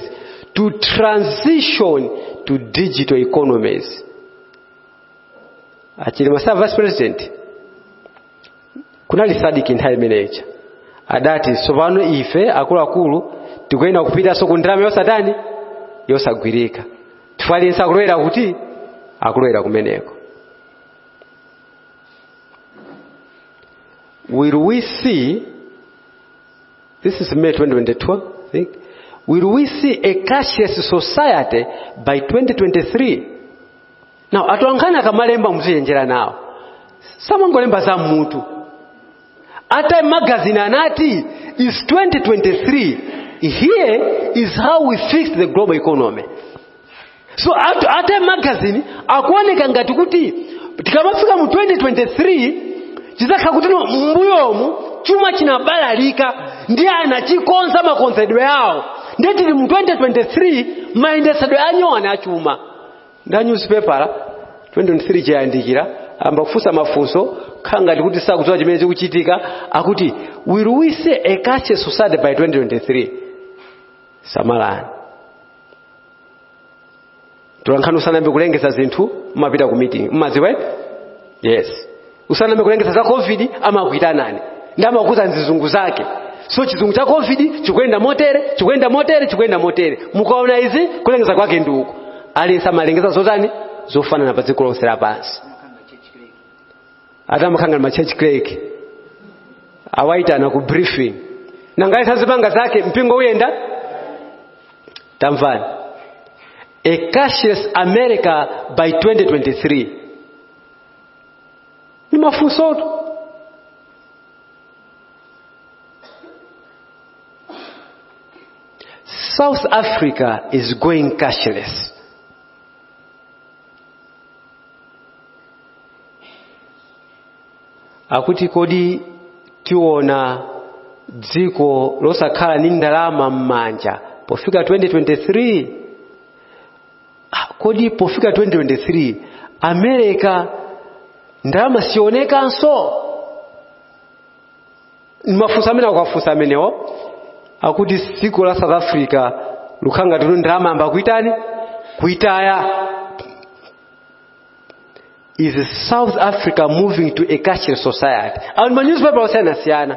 to transition to digital economies a Chilima as a vice president kunali sadc nthawi imene ija adati tsopano ife akuluakulu tikuyenera kupitanso ku ndalama yosatani yosagwirika chifukwa aliyense akulowera kuti akulowera kumeneko Will we see, this is May 2022, I think, will we see a cashless society by 2023? Now, atolankhani akamalemba muzichenjera nawo. Samangolemba za m'mutu. A Time magazine anati it's 2023 here is how we fix the global economy. So a, a Time magazine akuoneka ngati kuti tikamafika mu 2023 chidzakhala kuti no- m'mbuyomu chuma chinabalalika ndiye anachikonza makonzedwe awo ndiye tili mu 2023 mayendesedwe anyowani achuma ndi a nyuzipepala 2023 chayandikira ayamba kufunsa mafunso khala ngati kuti sakudziwa chimene chikuchitika akuti will we see a cashless society by 2023 samalani atolankhani usanayambe kulengeza zinthu mumapita ku meeting mumadziwa yes usanayambe kulengeza za covid amakuitanani ndi kumakuuzani nzizungu zake so chizungu cha covid chikuyenda motere chikuyenda motere chikuyenda motere mukaona izi kulengeza kwake ndi uku aliyense amalengeza zotani zofanana pa dziko lonse lapansi atamakhala ngati machurch clerk awaitana ku briefing ngati aliyense azipanga zake mpingo uyenda tamvani a cashless america by 2023 ni mafunsotu South Africa is going cashless. Akuti kodi tiona dziko losakhala ndi ndalama m'manja pofika 2023 Ah, kodi pofika 2023 america ndalama sionekanso mafunso amene akuwafunsa amenewo akuti dziko la south africa likukhala ngati nalo ndalama layamba kuitani kuitaya is south africa moving to a cashless society a ndi ma newspaper osiyanasiyana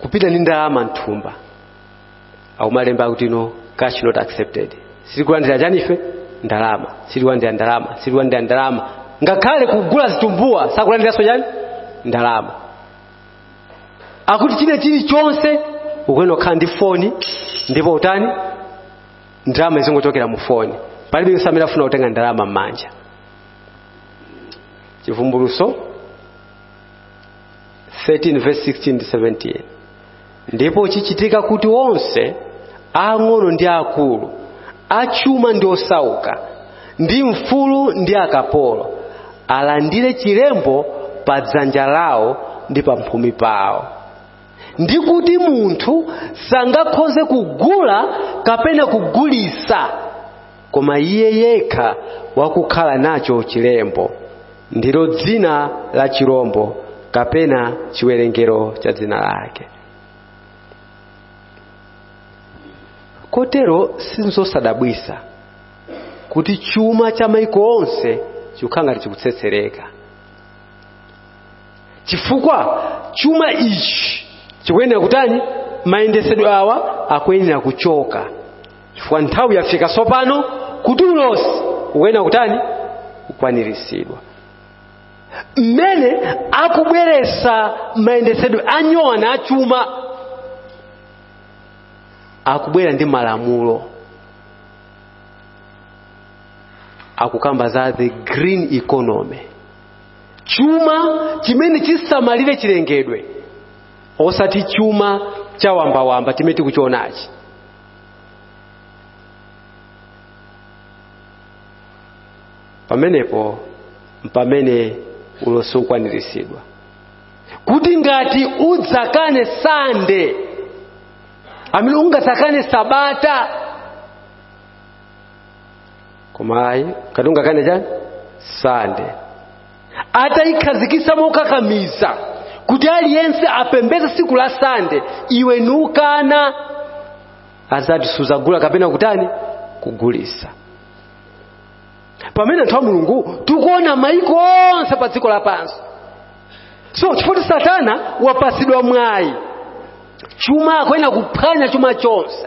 kupita ndi ndalama mthumba akumalemba kuti no cash not accepted sitikulandira chani ife ndalama sitikulandira ndalama sitikulandira ndalama ngakhale kugula zitumbuwa sakulandiranso chani ndalama akuti china chilichonse ukuyenera kukhala ndi foni ndipo utani ndalama izingochokera mu foni palibe aliyense amene afuna kutenga ndalama m'manja chivumbulutso 13 verse 16 ndi 17 ndipo chichitika kuti onse aang'ono ndi aakulu achuma ndi osauka ndi mfulu ndi akapolo alandire chilembo pa dzanja lawo ndi pa mphumi pawo ndi kuti munthu sangakhoze kugula kapena kugulitsa koma iye yekha wakukhala nacho chilembo ndilo dzina la chirombo kapena chiwerengero cha dzina lake kotero sinzosadabwisa kuti chuma cha maiko onse chikukhala ngati chikutsetsereka chifukwa chuma ichi chikuyenera kutani mayendesedwe awa akuyenera kuchoka chifukwa nthawi yafika tsopano kuti ulosi ukuyenera kutani kukwaniritsidwa mmene akubweretsa mayendetsedwe anyowani achuma akubwera ndi malamulo akukamba za the green economy chuma chimene chisamalire chilengedwe osati chuma chawambawamba chimene tikuchionachi pamenepo mpamene ulosi ukwaniritsidwa kuti ngati udzakane sande amene ungadzakane sabata koma ayi ngati ungakane chani sande atayikhazikisa mokakamiza kuti aliyense apembeze siku la sande iwe nukana azati suzagula kapena kutani kugulisa pamene anthu a mulungu tikuona maiko onse pa dziko lapansi so chifukwa satana wapasidwa mwayi chuma akuyenera kuphwanya chuma chonse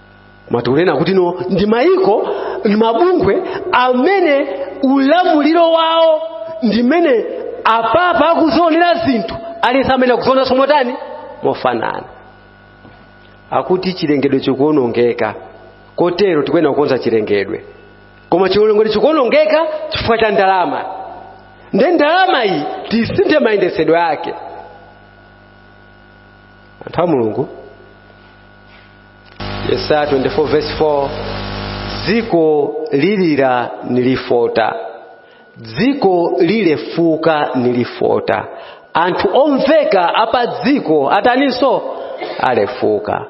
koma tikunena kuti no ndi mayiko ndi mabungwe amene ulamuliro wawo ndimene apapa akuzionera zinthu aliyense amene akuziona somotani mofanana akuti chilengedwe chikuonongeka kotero tikuyena kukonza chilengedwe koma chilengedwe chikuonongeka chifukwa cha ndalama nde ndalama iyi tisinthe mayendesedwe ake anthu a mulungu yesaya 24 verse 4 dziko lilira nilifota dziko lilefuka nilifota anthu omveka apa dziko ataninso alefuka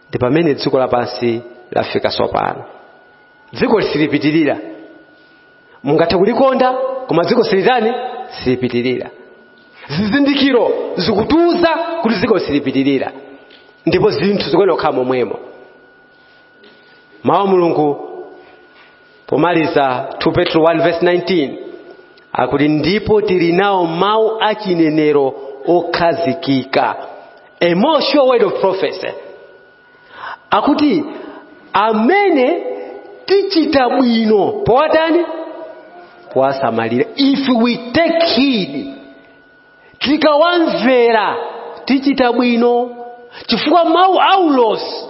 ndi pamene dziko lapansi lafika sopano dziko silipitirira mungathe kulikonda koma dziko silitani silipitirira zizindikiro zikutiuza kuti dziko silipitirira ndipo zinthu zikuyenera kukhala momwemo mawu a mulungu pomaliza 2 petro 1 verse 19 akuti ndipo tili nawo mawu a chinenero okhazikika a more sure word of prophecy akuti amene tichita bwino powatani powasamalira if we take heed tikawamvera tichita bwino chifukwa mawu aulosi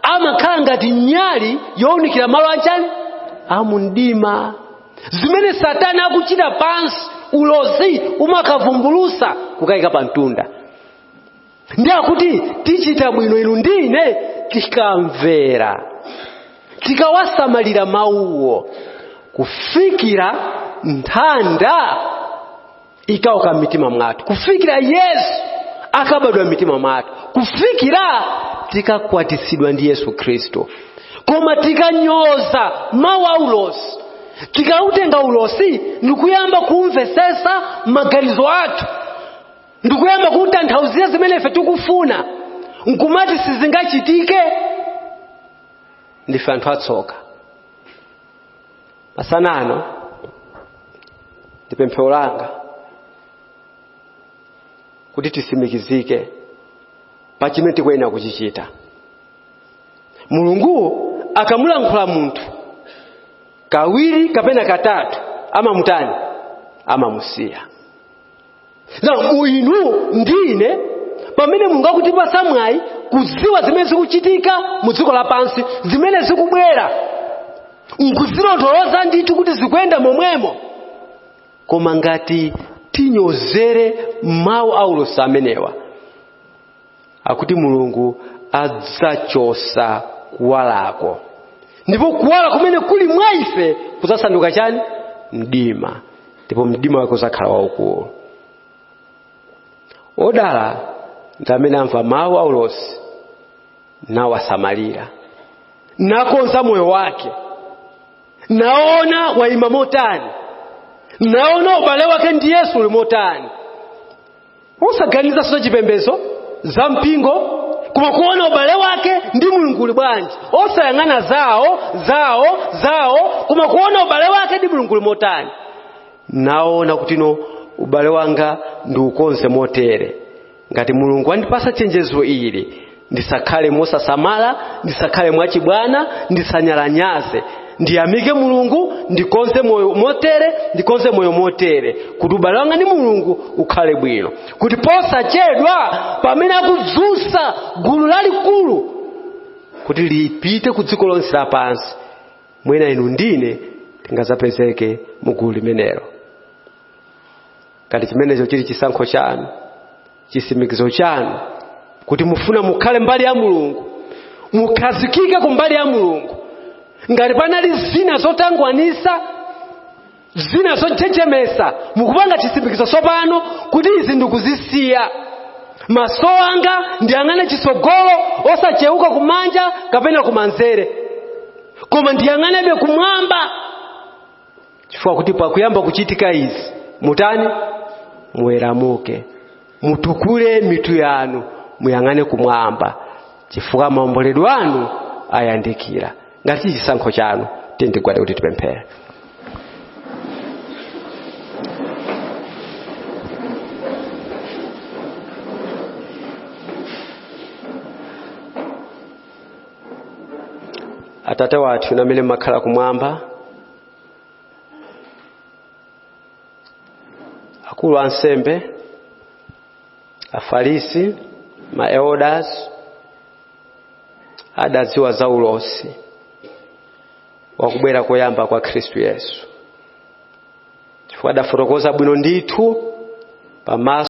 amakhala ngati nyali yowunikira malo anchani amumdima zimene satana akuchita pansi ulosi umakavumbulusa kuziika pa mtunda ndi akuti tichita bwino inu ndi ine tikamvera tikawasamalira mawuwo kufikira nthanda ikauka m'mitima mwathu kufikira yesu akabadwa m'mitima mwathu kufikira tikakwatitsidwa ndi yesu khristu koma tikanyoza mawu a ulosi tikautenga ulosi ndikuyamba kuumvesesa maganizo athu ndikuyamba kutanthauzira zimene ife tikufuna nkumati sizingachitike ndife anthu atsoka masana ano ndi pemphero langa kuti tisimikizike pa chimene tikuyenera kuchichita mulungu akamulankhula munthu kawiri kapena katatu amamutani amamusiya na inu ndine pamene mulungu akutipasa mwayi kuziwa zimene zikuchitika mu dziko lapansi zimene zikubwera nkuzilondoloza ndithu kuti zikuyenda momwemo koma ngati tinyozere mawu a ulosi amenewa akuti mulungu adzachosa kuwalako ndipo kuwala kumene kuli mwa ife kudzasanduka chani mdima ndipo mdima wake udzakhala waukulu odala ndi amene amva mawu aulosi nawasamalira nakonza moyo wake naona waima motani naona ubale wake ndi yesu uli motani osaganiza za chipembedzo za mpingo koma kuona ubale wake ndi mulungu uli bwanji osayang'ana zawo zawo zawo koma kuona ubale wake ndi mulungu uli motani naona kuti no ubale wanga ndiukonze motere ngati mulungu wandipasa chenjezo ili ndisakhale mosasamala ndisakhale mwachibwana ndisanyalanyaze ndiyamike mulungu ndikonze moyo motere ndikonze moyo motere kuti ubale wanga ndi mulungu ukhale bwino kuti posachedwa pamene akudzutsa gulu lalikulu kuti lipite ku dziko lonse lapansi mwina inu ndine tingazapezeke mu gulu limenelo ngati chimenecho chili chisankho chanu chisimikizo chanu kuti mufuna mukhale mbali ya mulungu mukhazikike ku mbali ya mulungu ngati panali zina zotangwanisa zina zochechemesa mukupanga chisimikizo tsopano kuti izi ndikuzisiya maso anga ndiyang'ane chisogolo osacheuka kumanja kapena kumanzere koma ndiyang'anebe kumwamba chifukwa kuti pakuyamba kuchitika izi mutani muweramuke mutukule mitu yanu muyang'ane kumwamba chifukwa maomboledwe anu ayandikira ngati chili chisankho chanu tiyeni tigwade kuti tipemphere atate wathu inu amene mmakhala kumwamba akulu ansembe afarisi maelders adadziwa za ulosi wakubwera koyamba kwa khristu yesu chifukwa adafotokoza bwino ndithu pamaso